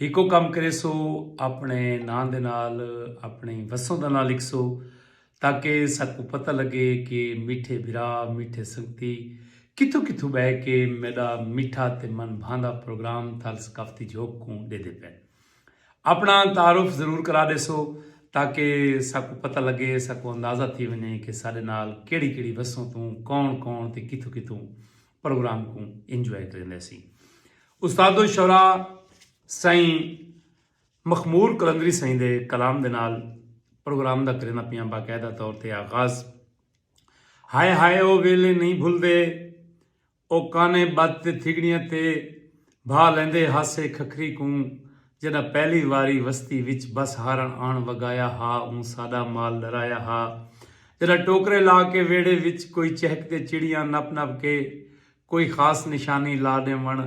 ہکو کم کریسو اپنڑے ناں دے نال اپنڑیں وسوں دا ناں لکھسو تاکہ ساکوں پتہ لگے کہ میٹھے بھرا میٹھے سنگتی کتھوں کتھوں بہ کے میڈا میٹھا تے من بھاندا پروگرام تھل ثقافتی جھوک کوں ڈیدے پن اپنڑا تعارف ضرور کرا ڈیسو تاکہ ساکوں پتہ لگے ساکوں اندازہ تھی ونجے کہ ساڈے نال کیڑی کیڑی وسوں توں کون کون تے کتھوں کتھوں پروگرام کوں انجوائے کریندے سی استاد الشعراء سائیں مخمور قلندری سائیں دے کلام دے نال پروگرام دا کریندہ پیاں باقاعدہ طور تے آغاز ہائے ہائے او ویلے نہیں بھلدے او کانے بد تے تھگڑیاں تے بھا لیندے ہاسے کھکھری کوں جݙاں پہلی واری وستی وچ بس ہارݨ آݨ وڳایا ہا اوں ساݙا مال ݙرایا ہا جݙاں ٹوکرے لا کے ویڑھے وچ کوئی چہک تے چڑیاں نپ نپ کے کوئی خاص نشانی لا ݙیوݨ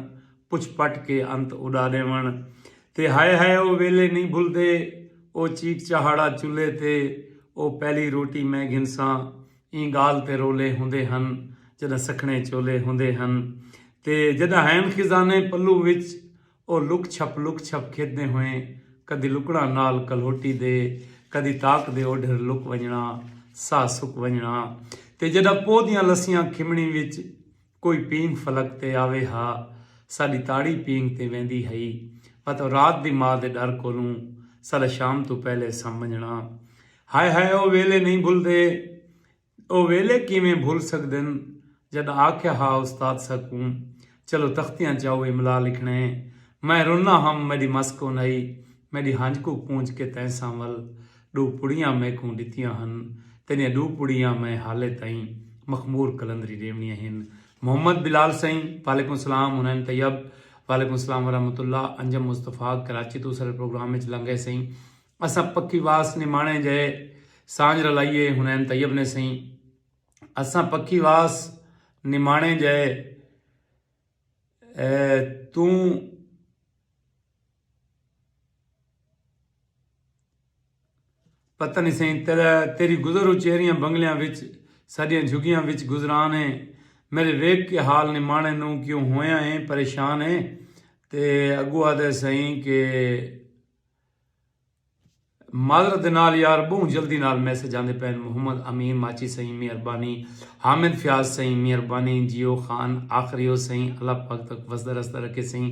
پچھ پٹ کے انت اݙا ݙیوݨ تے ہائے ہائے او ویلھے نئیں بھلدے او چیک چہاڑا چلھے تے او پہلی روٹی میں گھنساں ایں گالھ تے رولے ہوندے ہن جݙاں سکھڑیں چولے ہوندے ہن تے جݙاں ہین خزانے پلو وچ او لک چھپ لک چھپ کھیݙدیں ہوئیں کدی لکڑاں نال کلہوٹی دے کدی تاک دے اوڈھر لک ونڄݨاں ساہ سک ونڄݨاں تے جݙاں پوہ دیاں لسیاں کھمݨی وچ کوئی پینگ فلک تے آوے ہا، ساݙی تاڑی پینگ تے ویندی ہئی، واتوں رات دی ماء دے ݙر کولوں ساݙا شام توں پہلے اساں ونڄݨاں۔ ہائے ہائے او ویلے نئیں بھلدے۔ او ویلے کیویں بھل سڳدن جݙاں آکھیا ہا استاد ساکوں چلو تختیاں چاؤ املا لکھݨے۔ میں رناں ہم میݙی مس کونہئی میݙی ہنج کوں پونجھ کے تیں سانول ݙو پڑیاں میکوں ݙتیاں ہن، تیݙیاں ݙو پڑیاں میں حالے تئیں مخمور قلندری ݙیوݨیاں ہن۔ محمد بلال سئیں، وعلیکم سلام، حنین طیب، وعلیکم سلام ورحمۃ اللہ، انجم مصطفی، کراچی توں اساݙے پروگرام وچ لنگھئے سئیں، اساں پکی واس نماݨے جئے سانجھ رلائیے، حنین طیب نے سئیں، اساں پکی واس نماݨے جئے توں۔ پتہ نی سئیں تیری گزر و چہریاں بنگلیاں وچ ساڈیاں جھگیاں وچ گزران اے میڈے ویکھ کے حال نمانے نوں کیوں ہویاں اے پریشان اے تے اگوں آدھے سئیں کے معذرت دے نال یار بہوں جلدی نال میسج آندے پئن محمد امین ماچی سئیں مہربانی حامد فیاض سئیں مہربانی جیو خان آخریو سئیں اللہ پاک تک وسدا رسدا رکھے سئیں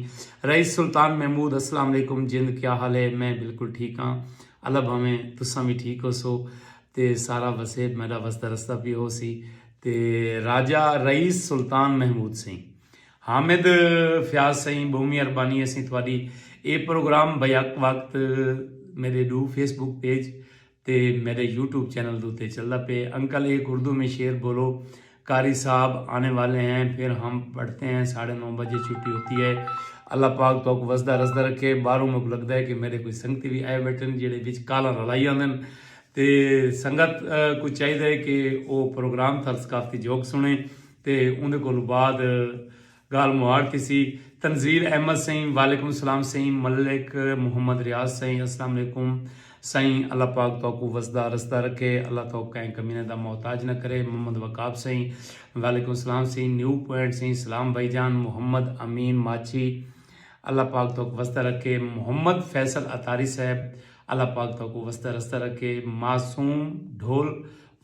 رئیس سلطان محمود اسلام علیکم جند کیا حال ہے میں بالکل ٹھیک ہاں اللہ بھاویں تساں وی ٹھیک ہوسو تے سارا وسیب میڈا وسدا رسدا پی ہوسی تے راجہ رئیس سلطان محمود سئیں حامد فیاض سئیں بہوں مہربانی اسیں تہاڈی اے پروگرام بیک وقت میڈے ڈو فیس بک پیج تے میڈے یوٹیوب چینل دوتے چلدا پے انکل ایک اردو میں شعر بولو قاری صاحب آنے والے ہیں پھر ہم پڑھتے ہیں ساڑھے نو بجے چھٹی ہوتی ہے اللہ پاک توک وسدا رسدا رکھے باروں مک لگدا ہے کہ میڈے کوئی سنگتی بھی آئے بیٹھن جیڑے وچ کالاں رلائی آندن تے سنگت کو چاہیدا ہے کہ او پروگرام تھر ثقافتی جھوک سنے تے اوندے کولوں بعد گالھ مہاڑ تھیسی۔ تنزیل احمد سئیں وعلیکم السلام سئیں ملک محمد ریاض سئیں السلام علیکم سئیں اللہ پاک تہاکوں وسدا رسدا رکھے اللہ تہاکوں کہیں کمینے دا محتاج نہ کرے محمد وقاب سئیں وعلیکم السلام سئیں نیو پوائنٹ سئیں سلام بھائی جان محمد امین ماچھی اللہ پاک تہاکوں وسدا رکھے محمد فیصل عطاری صاحب اللہ پاک تہاکوں وسدا رسدا رکھے معصوم ڈھول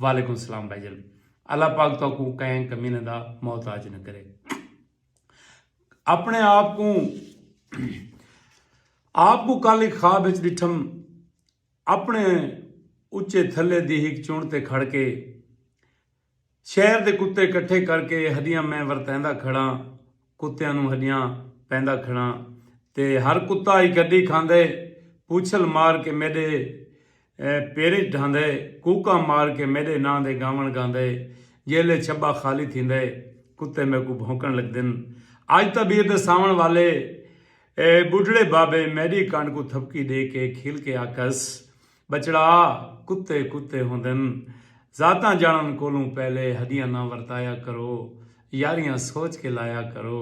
وعلیکم السلام بھائی جان۔ اللہ پاک تہاکوں کہیں کمینہ دا محتاج نہ کرے اپنے آپ کو آپ کو کل ایک خواب اچ ڈٹھم اپنے اچے تھلے دی ہک چون تے کھڑ کے شہر دے کتے کٹھے کر کے ہدیاں میں ورتیندا کھڑا کتیاں نوں ہݙیاں پیندا کھڑاں تے ہر کتا ای گݙی کھاندے پوچھل مار کے میݙے پیرچ ڈھاندے کوکاں مار کے میݙے ناں دے ڳاوݨ ڳاندے جیلے چھٻا خالی تھیندے کتے میکوں بھونکݨ لڳدن اڄ تاں ٻیر دے ساوݨ والے ٻڈھڑے بابے میݙی کنڈ کوں تھپکی ݙے کے کھل کے آکھس ٻچڑا کتے کتے ہوندن۔ ذاتاں جانڑن کولوں پہلے ہدیاں نہ ورتایا کرو۔ یاریاں سوچ کے لایا کرو۔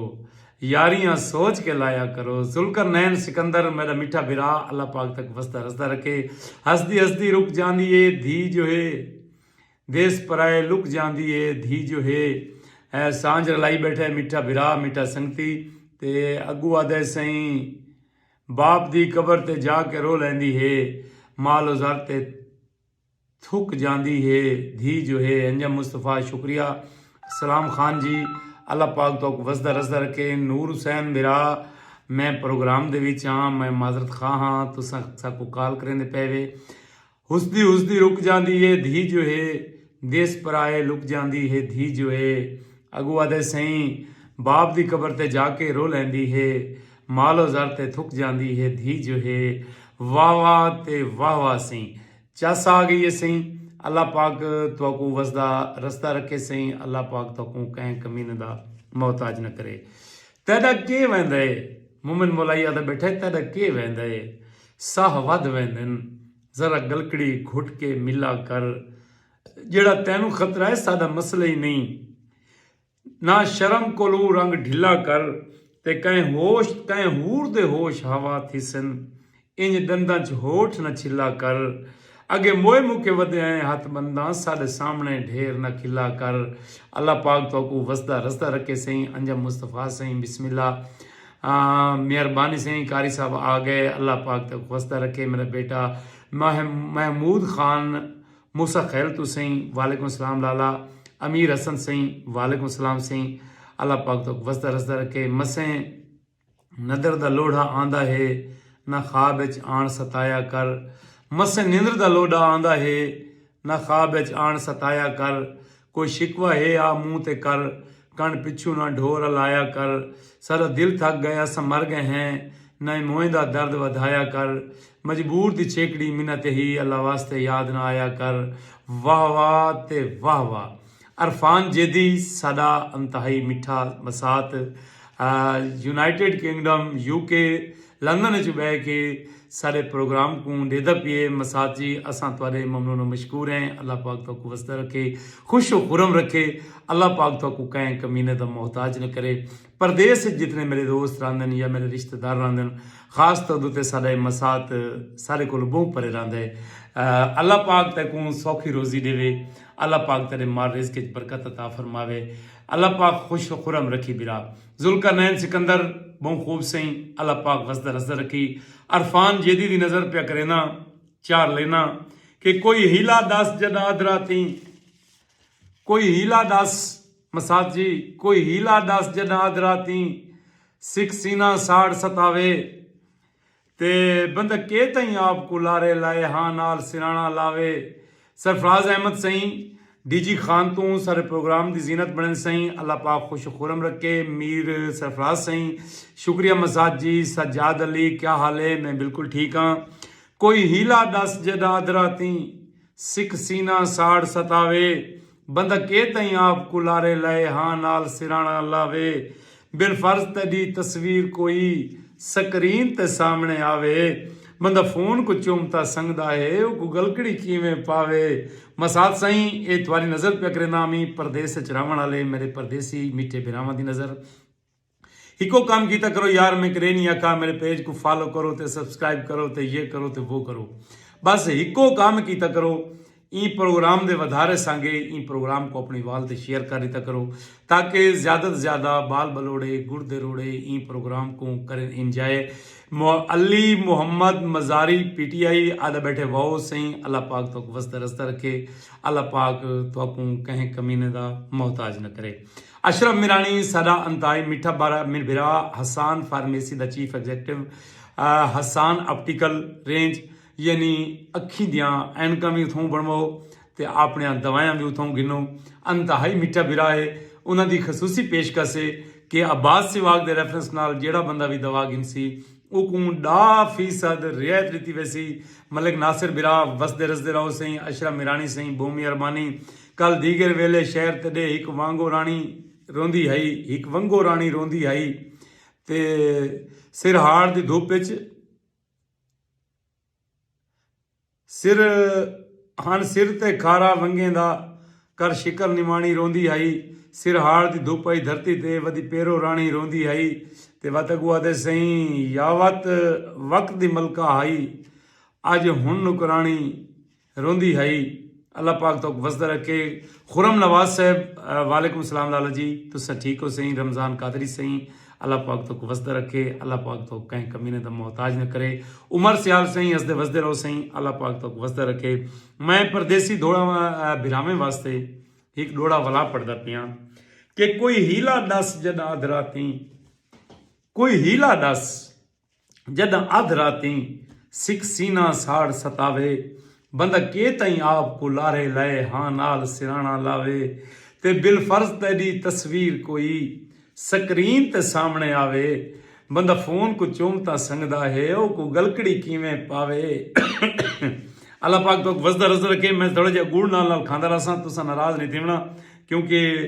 یاریاں سوچ کے لایا کرو۔ ذوالقرنین سکندر میڈا میٹھا بھرا اللہ پاک تک وسدا رسدا رکھے۔ ہسدی ہسدی رک جاندی ہے دھی جو ہے۔ دیس پرائے لک جاندی ہے دھی جو ہے۔ اے سانجھ رلائی بیٹھے میٹھا بھرا میٹھا سنگتی تے اگو آدھے سئیں۔ باپ دی قبر تے جا کے رو لیندی ہے۔ ماء لو زر تے تھک جاندی ہے۔ دھی جو ہے انجم مصطفی شکریہ اسلام خان جی اللہ پاک توک وسدا رسدا رکھے۔ نور حسین بھرا میں پروگرام دے وچ ہاں میں معذرت خواہ ہاں تساں ساکوں کال کریندے پے وے۔ ہسدی ہسدی رک جاندی ہے دھی جو ہے دیس پرائے لک جاندی ہے دھی جو ہے اگو آدھے سئیں باپ دی قبر تے جا کے رو لیندی ہے مال و زر تے تھک جاندی ہے دھی جو ہے واہ واہ تے واہ واہ سئیں چس آ گئی ہے سئیں اللہ پاک تہاکوں وسدا رسدا رکھے سئیں اللہ پاک تہاکوں کہیں کمینے دا محتاج نہ کرے تہاڈا کے ویندا ہے مومن مولائی آدھا بیٹھا ہے تہاڈا کے ویندا ہے ساہ ودھ ویندن۔ ذرا گلکڑی گھٹ کے ملا کر۔ جیڑھا تینوں خطرہ ہے ساڈا مسئلہ ہی نئیں۔ نہ شرم کولوں رنگ ڈھلا کر۔ تے کہیں ہوش کہیں ہور دے ہوش ہوا تھیسن۔ انج ڈنداں چ ہوٹھ نہ چھلا کر۔ اگے موئے موکے ودے آئیں ہتھ بنداں ساڈے سامنے ڈھیر نہ کھلا کر اللہ پاک تہاکوں وسدا رسدا رکھے سئیں انجم مصطفی سئیں بسم اللہ مہربانی سئیں قاری صاحب آگئے اللہ پاک تہاکوں وسدا رکھے میرا بیٹا محمود خان موسی خیل توں سئیں وعلیکم السلام لالا امیر حسن سئیں وعلیکم السلام سئیں اللہ پاک تہاکوں وسدا رسدا رکھے مسیں ندر دا لوڈھا آندا ہے نہ خواب اچ آن ستایا کر مسے نندر دا لوڈھا آندا ہے نہ خواب اچ آن ستایا کر کوئی شکوہ ہے آ منہ تے کر کن پچھوں نہ ڈھو رلایا کر ساڈا دل تھک گئے اساں مر گئے ہیں نئیں موئیں دا درد ودھایا کر مجبور دی چھیکڑی منت ہی اللہ واسطے یاد نہ آیا کر واہ واہ تے واہ واہ۔ عرفان جیدی ساڈا انتہائی مٹھا مسات United Kingdom U K London اچ بہ کے ساڈے پروگرام کوں ڈیدا پیئے مسات جی اساں تہاڈے ممنون و مشکور ہیں اللہ پاک تہاکوں وسدا رکھے خوش و خرم رکھے اللہ پاک تہاکوں کہیں کمینے دا محتاج نہ کرے پردیس اچ جتنے میڈے دوست راہندن یا میڈے رشتہ دار راہندن خاص طور اتے ساڈا اے مسات سارے کولوں بہوں پرے راہندا اے اللہ پاک تیکوں سوکھی روزی ڈیوے اللہ پاک تیڈے مال رزق اچ برکت عطا فرماوے اللہ پاک خوش و خرم رکھی برا ذوالقرنین سکندر بہوں خوب سئیں اللہ پاک وسدا رسدا رکھی عرفان جیدی دی نظر پیا کرینداں چار لینداں کہ کوئی حیلہ دس جڈا ادھرا تھیں کوئی حیلہ ڈس مسات جی کوئی حیلہ ڈس جڈاں ادھ راتیں سکھ سینہ ساڑ ستاوے تے بندہ کے تئیں آپ کوں لارے لائے ہاں نال سرانا لاوے سرفراز احمد سئیں ڈی جی خان توں سارے پروگرام دی زینت بنڑیں سئیں اللہ پاک خوش و خورم رکھے میر سرفراز سئیں شکریہ مسات جی سجاد علی کیا حال ہے میں بالکل ٹھیک ہاں کوئی حیلہ ڈس جڈاں ادھ راتیں سکھ سینہ ساڑ ستاوے۔ بندہ کے تئیں آپ کوں لارے لئے ہاں نال سرہاݨا لاوے۔ بالفرض تیݙی تصویر کوئی سکرین تے سامݨے آوے۔ بندہ فون کوں چم تاں سنگدا ہے اوکوں ڳلکڑی کیویں پاوے۔ ماسات سئیں اے تہاݙی نظر پیا کرینداں امی پردیس اچ رہوݨ آلے میݙے پردیسی میٹھے بھراواں دی نظر۔ ہکو کم کیتا کرو یار میں کرے نہیں آکھا میرے پیج کو فالو کرو تے سبسکرائب کرو تے یہ کرو تے وہ کرو بس ہکو کم کیتا کرو این پروگرام دے ودھارے سانگے این پروگرام کو اپنی وال تے شیئر کر دیتا کرو تاکہ زیادہ تے زیادہ بال بلوڑے گڑ دے روڑے این پروگرام کو کرن enjoy Ali Muhammad Mazari P T I آدھا بیٹھے واؤ سہی اللہ پاک تو کو وستا رستہ رکھے اللہ پاک تو کو کہیں کمینے دا محتاج نہ کرے اشرف میرانی ساڈا انتہائی میٹھا بھرا حسان فارمیسی دا chief executive Hassan optical range یعنی اکھیں دیاں اینکاں وی اتھاؤں بنواؤ تے آپنیاں دوایاں وی اتھاؤں گھنو انتہائی میٹھا بھرا ہے انہاں دی خصوصی پیشکش ہے کہ عباس سیواگ دے ریفرنس نال جیڑھا بندہ وی دوا گھنسی اوکوں ڈا فیصد رعایت ڈتی ویسی ملک ناصر بھرا وسدے رسدے رہو سئیں اشرف میرانی سئیں بہوں مہربانی کل دیگر ویلے شہر تݙے ہک وانگو راݨی روندی ہئی ہک ونگو راݨی روندی ہئی تے سر ہاڑ دی دھپ اچ سر ہݨ سر تے کھارا ونگیں دا کر شکر نواݨی روندی ہئی سر ہاڑ دی دھپ اچ دھرتی تے ودی پیرو راݨی روندی ہئی تے وت اڳوں آہدے سئیں یاوت وقت دی ملکہ ہئی اڄ ہݨ نوکراݨی روندی ہئی اللہ پاک توک وسدا رکھے۔ خرم نواز صاحب وعلیکم السلام لالا جی تساں ٹھیک ہو سئیں رمضان قادری سئیں اللہ پاک توک وسدا رکھے اللہ پاک توک کہیں کمینے دا محتاج نہ کرے عمر سیال سئیں ہسدے وسدے رہو سئیں اللہ پاک توک وسدا رکھے میں پردیسی دوڑا بھراویں واسطے ہک ڈوڑا ولا پڑھدا پیاں کہ کوئی ہیلا ڈس جڈاں ادھراتیں کوئی ہیلا ڈس۔ جڈاں ادھ راتیں سکھ سینہ ساڑ ستاوے بندہ کے تئیں آپ کوں لارھے لائے ہاں نال سرانڑاں لاوے تے بالفرض تیڈی تصویر کوئی سکرین تے سامنڑے آوے بندہ فون کوں چوم تاں سنگدا ہے او کوں گلکڑی کیویں پاوے اللہ پاک توک وسدا رزدا رکھے میں تھوڑا جیا گڑ نال نال کھاندا رہساں تساں ناراض نہیں تھیونڑاں کیونکہ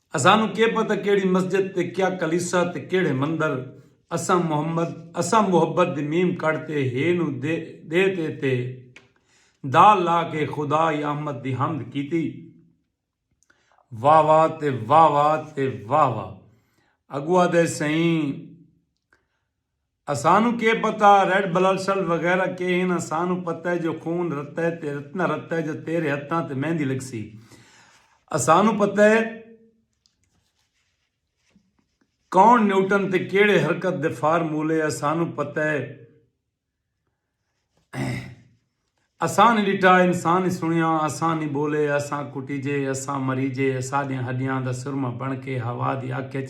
اسانوں کے پتہ کیڑھی مسجد تے کیا کلیسا تے کیڑھے مندر اساں محمد اساں محبت دی میم کڈھ تے ہے نو دے دے تے تے دال لا کے خدا یا احمد دی حمد کیتی واہ واہ تے واہ واہ تے واہ واہ اگوا دے سئیں اسانوں کے پتہ ریڈ بلڈسل وغیرہ کے ہن اسانوں پتہ ہے جو خون رت ہے تے رت نہ رت ہے جو تیرے ہتھاں تے مہندی لگسی اسانوں پتہ ہے کون نیوٹن تے کیڑھے حرکت دے فارمولے اسانوں پتہ ہے اساں نی ڈٹا انساں نی سنیا اساں نی بولے اساں کٹیجے اساں مریجے اساڈیاں ہڈیاں دا سرمہ بن کے ہوا دی اکھ اچ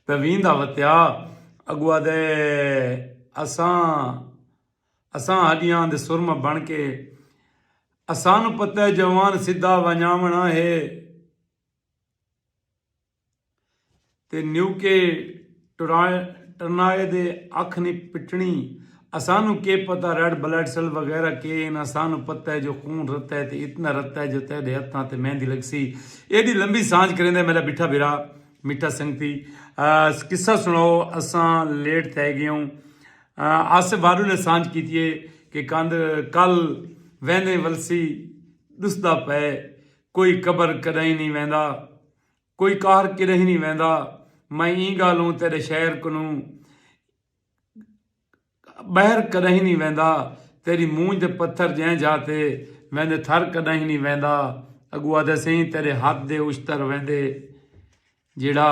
پہ ویندا وتیا اگو آدھے اساں اساں ہڈیاں دے سرمہ بن کے اساں نو پتہ جوان سدھا ونجاونڑاں ہے۔ تے نیوکے ٹرنائے دے اکھ نی پٹنی اسانوں کے پتہ ریڈ بلڈ سیل وغیرہ کے ہن اسانوں پتہ ہے جو خون رتا ہے تے اتنا رتا ہے جو تیڈے ہتھاں تے مہندی لگسی ایڈی لمبی سانجھ کریندے میڈا مٹھا بھرا مٹھا سنگتی قصہ سناؤ اساں لیٹ تھے گیوں آصف وارو نے سانجھ کیتیے کہ کاند کل ویندے ولسی ڈسدا پئے کوئی قبر کڈائی نی ویندا۔ کوئی قہر کݙہیں نی ویندا۔ میں ایں ڳالھوں تیݙے شہر کنوں ٻہر کݙہیں نی ویندا۔ تیݙی مونجھ دے پتھر جئیں جاہ تے ویندے تھر کݙہیں نی ویندا۔ اڳوں آہدے سئیں تیݙے ہتھ دے اشتر ویندے جیڑھا۔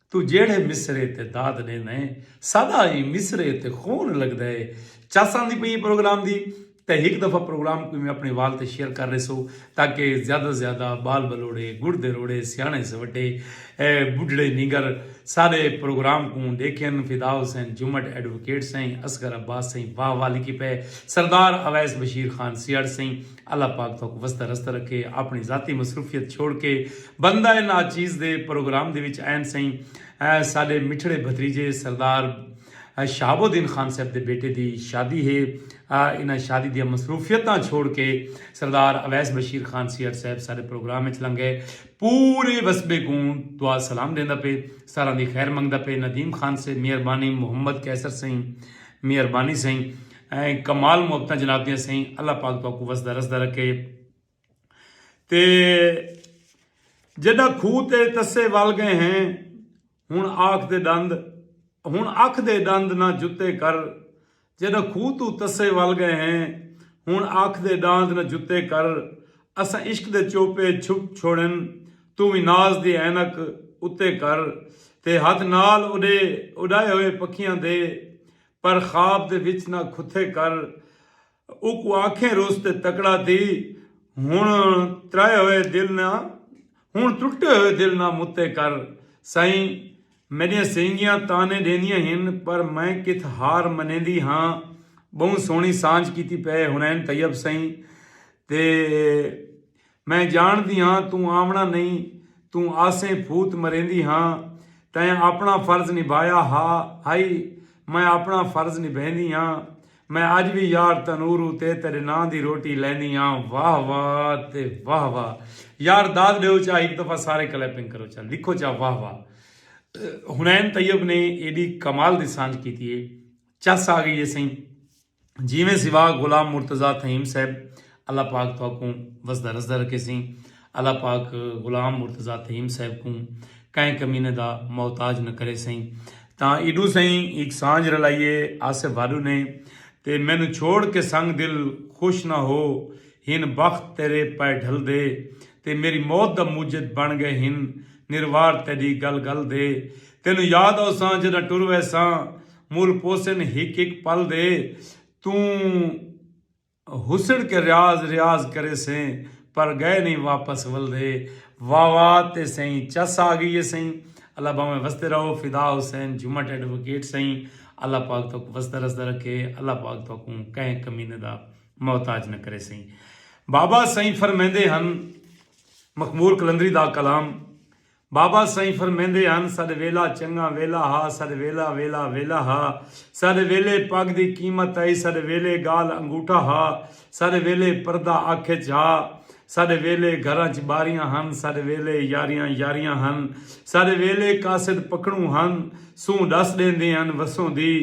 توں جیڑھے مصرعے تے داد ݙیندا ہیں ساݙا ایں مصرعے تے خون لڳدا ہے۔ چس آندی پئی ہے پروگرام دی تاں ہک دفعہ پروگرام کوں وی اپݨے وال تے شیئر کر ݙیسو تاکہ زیادہ توں زیادہ ٻال ٻلوڑے، ڳڑھ دے روڑے، سیاݨے سوٹھے، ٻڈھڑے نینگر ساݙے پروگرام کوں ݙیکھن۔ فدا حسین جھمٹ ایڈووکیٹ سئیں، اصغر عباس سئیں واہ واہ لکھی پئے، سردار اویس بشیر خان سیہڑ سئیں، اللہ پاک تہاکوں وسدا رسدا رکھے آپنڑی ذاتی مصروفیت چھوڑ کے بندہ ناچیز دے پروگرام دے وچ آئن سئیں ساڈے مٹھڑے بھتریجے سردار شہاب الدین خان صاحب دے بیٹے دی شادی ہے انہاں شادی دیاں مصروفیتاں چھوڑ کے سردار اویس بشیر خان سی آر صاحب ساڈے پروگرام وچ لنگ گئے پورے وسبے کوں دعا سلام دیندا پے ساراں دی خیر منگدا پے ندیم خان سے مہربانی محمد قیصر سئیں مہربانی سئیں ایں کمال محبتاں جناب دیاں سئیں اللہ پاک تہاکوں وسدا رسدا رکھے تے جڈاں کھوہ تے تسے ول گئے ہیں ہن آکھ دے ڈند ہن اکھ دے ڈند نہ جتے کر جڈاں کھوہ توں تسے ول گئے ہیں ہن آکھ دے ڈاند نہ جتے کر اساں عشق دے چوپے چھپ چھوڑن توں وی ناز دی عینک اتے کر تے ہتھ نال اڈے اڈائے ہوئے پکھیاں دے پر خواب دے وچ نہ کھتے کر اوکوں آکھیں روس تے تکڑا تھی ہن ترائے ہوئے دل نہ ہن ٹٹے ہوئے دل نہ متے کر سائیں میڈیاں سینگیاں تانے ڈیندیاں ہن پر میں کتھ ہار منیندی ہاں بہوں سوہنی سانجھ کیتی پئے حنین طیب سائیں تے میں جانڑدی ہاں توں آونڑاں نئیں، توں آسیں پھوت مریندی ہاں، تیں آپنڑاں فرض نبھایا ہا، ہئی، میں آپنڑاں فرض نبھیندی ہاں، میں اج وی یار تنور اتے تیڈے ناں دی روٹی لیندی ہاں، واہ واہ تے واہ واہ، یار داد ڈیو چا ہک دفعہ سارے کلیپنگ کرو چا لکھو چا واہ واہ، حنین طیب نے ایڈی کمال دی سانجھ کیتی ہے، چس آ گئی ہے سئیں۔ جیویں سوا غلام مرتضی تھئیم صاحب اللہ پاک تہاکوں وسدا رسدا رکھیسیں اللہ پاک غلام مرتضی تھئیم صاحب کوں کہیں کمینے دا محتاج نہ کرے سئیں تاں ایڈو سئیں ہک سانجھ رلائیے آصف بھاڈو نے تے مینوں چھوڑ کے سنگ دل خوش نہ ہو ہن بخت تیرے پئے ڈھل دے تے میری موت دا موجد بن گئے ہن نروار تیڈی گل گل دے تینوں یاد اوساں جڈاں ٹر ویساں مول پوسن ہک ہک پل دے توں حسن کے ریاض ریاض کریسیں پر گئے نہیں واپس ولدے واہ واہ تے سئیں چس آگئی اے سئیں اللہ باویں وسدے رہو فدا حسین جھمٹ ایڈووکیٹ سئیں اللہ پاک تہاکوں وسدا رسدا رکھے اللہ پاک تہاکوں کہیں کمینے دا محتاج نہ کرے سئیں بابا سئیں فرمیندے ہن مخمور قلندری دا کلام بابا سئیں فرمیندے ہن ساڈے ویلا چنگا ویلا ہا ساڈے ویلا ویلا ویلا ہا ساڈے ویلے پگ دی قیمت ہئی ساڈے ویلے گال انگوٹھا ہا ساڈے ویلے پردہ اکھ اچ ہا ساڈے ویلے گھراں اچ باریاں ہن ساڈے ویلے یاریاں یاریاں ہن ساڈے ویلے قاصد پکھڑوں ہن سوں ڈس ڈیندے ہن وسوں دی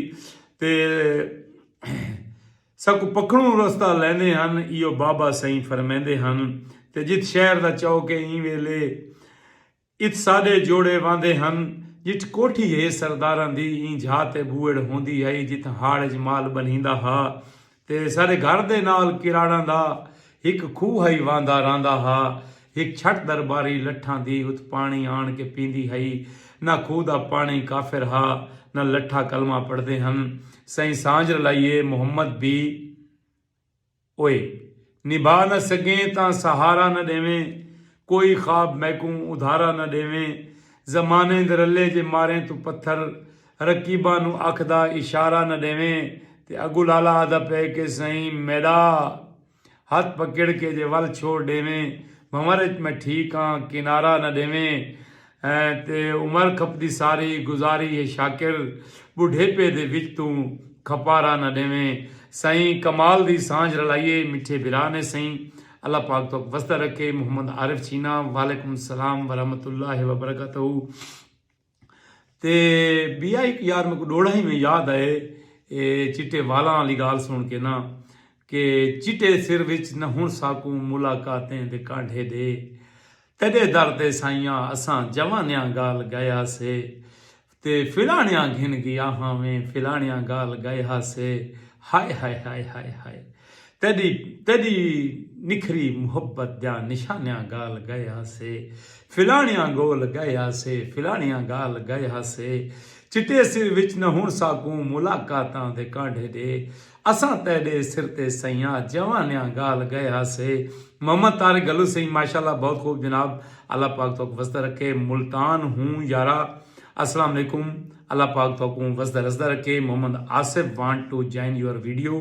تے ساکوں پکھنوں رستہ لیندے ہن ایہو بابا سئیں فرمیندے ہن تے جت شہر دا چوک اے ایں ویلے ات ساڈے جوڑے واندے ہن جٹھ کوٹھی ہے سرداراں دی ایں جھا تے بوئڑ ہوندی ہئی جتھاں ہاڑ اچ مال بنھیندا ہا تے ساڈے گھر دے نال کراڑاں دا ہک کھوہ ہئی وہندا رہندا ہا۔ ہک چھٹ درباری لٹھاں دی ات پانڑی آن کے پیندی ہئی۔ نہ کھوہ دا پانڑی کافر ہا نہ لٹھا کلمہ پڑھدے ہن۔ سئیں سانجھ رلائیے محمد بی اوئے۔ نبھا نہ سگیں تاں سہارا نہ ڈیویں۔ کوئی خواب میکوں ادھارا نہ ڈیویں۔ زمانے دے رلے جے ماریں توں پتھر۔ رقیباں نوں اکھ دا اشارہ نہ ڈیویں تے اگوں لالا آہدا پئے کہ سئیں میڈا ہتھ پکڑ کے جے ول چھوڑ ڈیویں بھنور اچ میں ٹھیک آں کنارہ نہ ڈیویں تے عمر کھپدی ساری گزاری ہے شاکر بڈھیپے دے وچ توں کھپارہ نہ ڈیویں سئیں کمال دی سانجھ رلائیے مٹھے بھرا نے سئیں اللہ پاک تہاک وسدا رکھے محمد عارف چھینا وعلیکم السلام ورحمت اللہ وبرکاتہ۔ تے بیا ایک یار میں کو ڈوڑا ہی میں یاد آئے چٹے والاں علی گال سن کے نا کہ چٹے سر وچ نہ ہن ساکوں ملاقاتیں دے کانڈھے دے تیڈے در تے سائیاں اساں جوانیاں گال گئے ہا سے تے فلانیاں گھن گیا ہاں میں فلانیاں گال گئے ہا سے ہائے ہائے ہائے ہائے ہائے تیݙی تیݙی نکھری محبت دیاں نشانیاں ڳال ڳئے ہاسے فلاݨیاں ڳول ڳئے ہاسے فلاݨیاں ڳال ڳئے ہاسے چٹے سر وچ نہ ہݨ ساکوں ملاقاتاں دے کانڈھے ݙے اساں تیݙے سر تے سئیاں جوانیاں ڳال ڳئے ہاسے محمد طارق گھلو سئیں ماشاءاللہ بہت خوب جناب اللہ پاک تہاکوں وسدا رکھے ملتان ہوں یارا السلام علیکم اللہ پاک تہاکوں وسدا رسدا رکھے Muhammad Asif want to join your video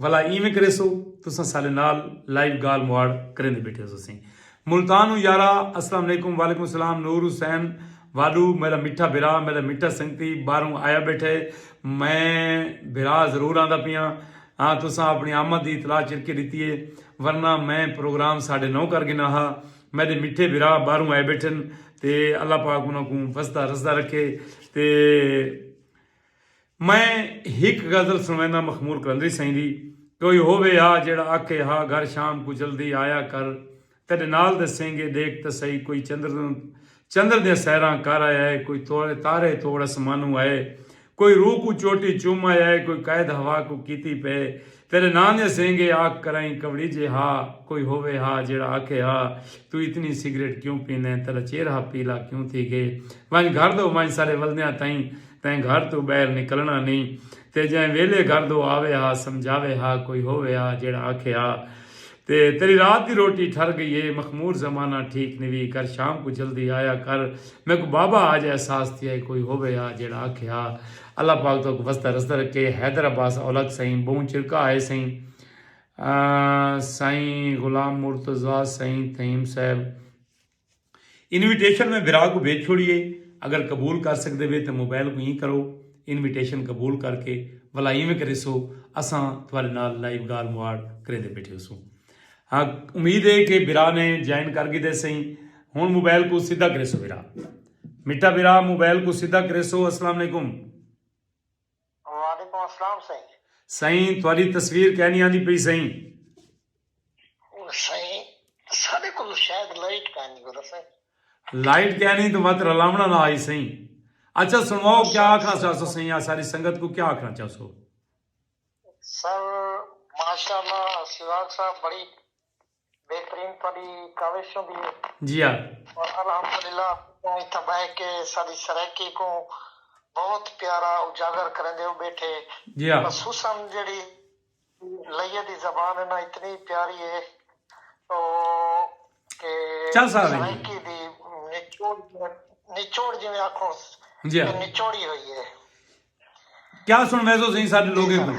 ولا ایویں کریسو تساں سالے نال لائیو گال مواڑ کریندے بیٹھے ہو سسیں ملتان ہوں یارا اسلام علیکم وعلیکم السلام نور حسین واڈو میرا میٹھا بھرا میرا میٹھا سنگتی باہروں آیا بیٹھے میں بھرا ضرور آندا پیاں ہاں تساں اپنی آمد دی اطلاع چرکے دیتی ہے ورنہ میں پروگرام ساڑھے نو کر گنا ہا میرے میٹھے بھرا باہروں آئے بیٹھن تے اللہ پاک انہوں کو وسدا رسدا رکھے تے میں ہک غزل سݨوینداں مخمور قلندری سئیں دی، کوئی ہووے آ جیڑھا آکھے ہا گھر شام کوں جلدی آیا کر تیڈے نال دے سینگے ڈیکھ تاں سہی کوئی چندر دیاں سیراں کر آیا ہے کوئی تارے توڑ اسمانوں آئے کوئی روح کوں چوٹی چوم آیا ہے کوئی قید ہوا کوں کیتی پئے تیݙے ناں دے سینگے آکھ کرائیں کوڑیجے ہا کوئی ہووے ہا جیڑھا آکھے ہا توں اتنی سگریٹ کیوں پینیں تیݙا چیرھا پیلا کیوں تھی ڳئے ونڄ گھر دو ونڄ سارے ولدیاں تئیں تیں گھر توں ٻاہر نکلݨا نی تے جئیں ویلھے گھر دو آوے ہا سمجھاوے ہا کوئی ہووے ہا جیڑھا آکھے ہا تے تیݙی رات دی روٹی ٹھر ڳئی ہے مخمور زمانہ ٹھیک نوی کر شام کوں جلدی آیا کر میکوں بابا آج احساس تھیا ہے کوئی ہووے ہا جیڑھا آکھے ہا اللہ پاک تہاکوں وسدا رسدا رکھے حیدر عباس اولک سئیں ٻہوں چرکا آئے سئیں سئیں غلام مرتضی سئیں تھئیم صاحب انویٹیشن میں بھرا کوں بھیج چھوڑیے اگر قبول کر سکدے وے تے موبائل کوں ایں کرو انویٹیشن قبول کر کے ولا ایویں کریسو اساں تھوارے نال لائیو گال مواڑ کریندے بیٹھے ہوسوں ہاں امید ہے کہ بھرا نے جوائن کر گدے سیں ہن موبائل کو سیدھا کریسو بھرا مٹا بھرا موبائل کو سیدھا کریسو السلام علیکم وعلیکم السلام سائیں۔ سائیں تہاݙی تصویر کائنی آندی پئی سائیں۔ سائیں ساݙے کولوں شاید لائٹ کائنی کولا سائیں۔ لائٹ کائنی تاں وت رلاوݨا نہ آئی سائیں۔ اچھا سݨواؤ کیا آکھݨا چاہسو سائیں یا ساری سنگت کوں کیا آکھݨا چاہسو۔ سر ماشاءاللہ سراج صاحب بڑی بہترین تہاڈی کاوش ہوندی ہے۔ جی ہاں۔ اور الحمدللہ تساں اتھاں بہہ کے ساڈی سرائیکی کوں بہت پیارا اجاگر کریندے ہو بیٹھے۔ جی ہاں۔ خصوصا جیڑھی لئیے دی زبان ہے نا اتنی پیاری ہے او کہ سرائیکی دی نچوڑ جیویں آکھوں نچوڑی ہوئی ہے۔ کیا سنڑویسو سئیں ساڈے لوگیں کوں۔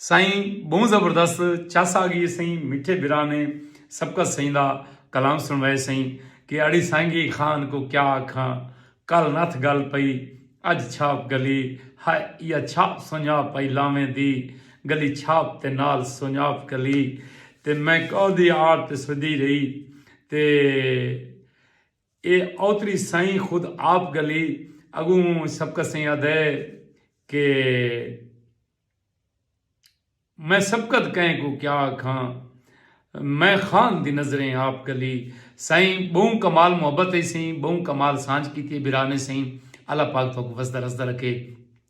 سائیں بہوں زبردست چس آ گئی سائیں میٹھے بھرا نے سبقت سائیں دا کلام سنوائے سائیں کہ اڑی سانگی خان کو کیا آکھاں کل نتھ گل پئی اج چھاپ گلی ہائے یا چھاپ سنجاپ پائی لاویں دی گلی چھاپ تے نال سنجاپ گلی تے میں کاؤ دی آڑ تے سدی رہی تے اے اوتری سائیں خود آپ گلی اگوں سبقت سئیں آدھے کہ میں سبقت کئیں کوں کیا آکھاں میں خان دی نظریں آپ گلی سائیں بہوں کمال محبت اے سئیں بہوں کمال سانجھ کیتی اے برانے سئیں اللہ پاک تہاکوں وسدا رسدا رکھے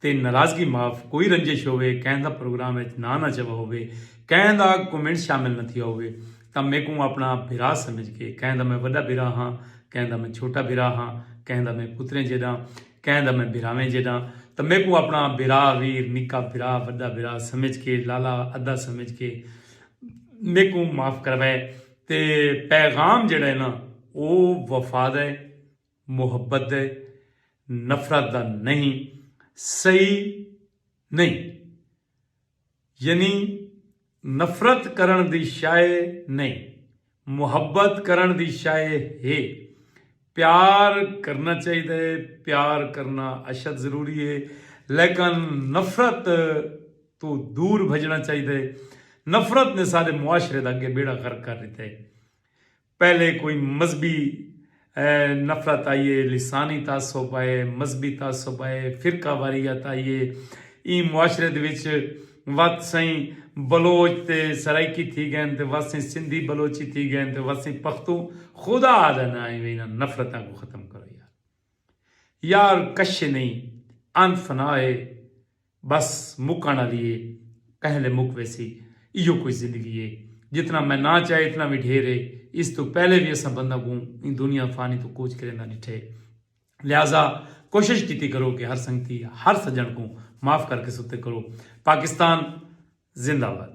تے ناراضگی معاف کوئی رنجش ہووے کہیں دا پروگرام اچ ناں نہ چوا ہووے کہیں دا کومنٹ شامل نہ تھیا ہووے تاں میکوں اپنا بھرا سمجھ کے کہیں دا میں وڈا بھرا ہاں کہیں دا میں چھوٹا بھرا ہاں کہیں دا میں پتریں جیڈاں کہیں دا میں بھراویں جیڈاں تاں میکوں اپنا بھرا ویر نکا بھرا وڈا بھرا سمجھ کے لالا ادا سمجھ کے میکوں معاف کراوے تے پیغام جیڈا ہے نا او وفا دا ہے۔ محبت دے نفرت دا نئیں صحیح نئیں یعنی نفرت کرݨ دی شئے نئیں محبت کرݨ دی شئے ہے پیار کرݨا چاہیدا ہے پیار کرݨا اشد ضروری ہے لیکن نفرت توں دور بھڄݨا چاہیدا ہے نفرت نے سارے معاشرے دا اڳے ٻیڑا غرق کر ݙتا ہے۔ پہلے کوئی مذہبی نفرت آئی اے، لسانی تعصب آئے، مذہبی تعصب آئے، فرقہ واریت آئی اے۔ ایں معاشرے دے وچ وت سئیں بلوچ تے سرائیکی تھی گئن تے وت سئیں سندھی بلوچی تھی گئن تے وت سئیں پختوں خدا دا ناں اے وے انہاں نفرتاں کوں ختم کرو یار۔ یار کش نئیں ان فنا اے بس مکݨ آلی اے پہلے مک ویسی ایہو کوئی زندگی اے جتنا میں نہ چاہے اتنا وی ڈھیر اے اس توں پہلے وی اساں بنداں کوں ایں دنیا فانی توں کوچ کریندا ڈٹھے لہذا کوشش کیتی کرو کہ ہر سنگتی ہر سجݨ کوں معاف کر کے ستے کرو پاکستان زندہ باد۔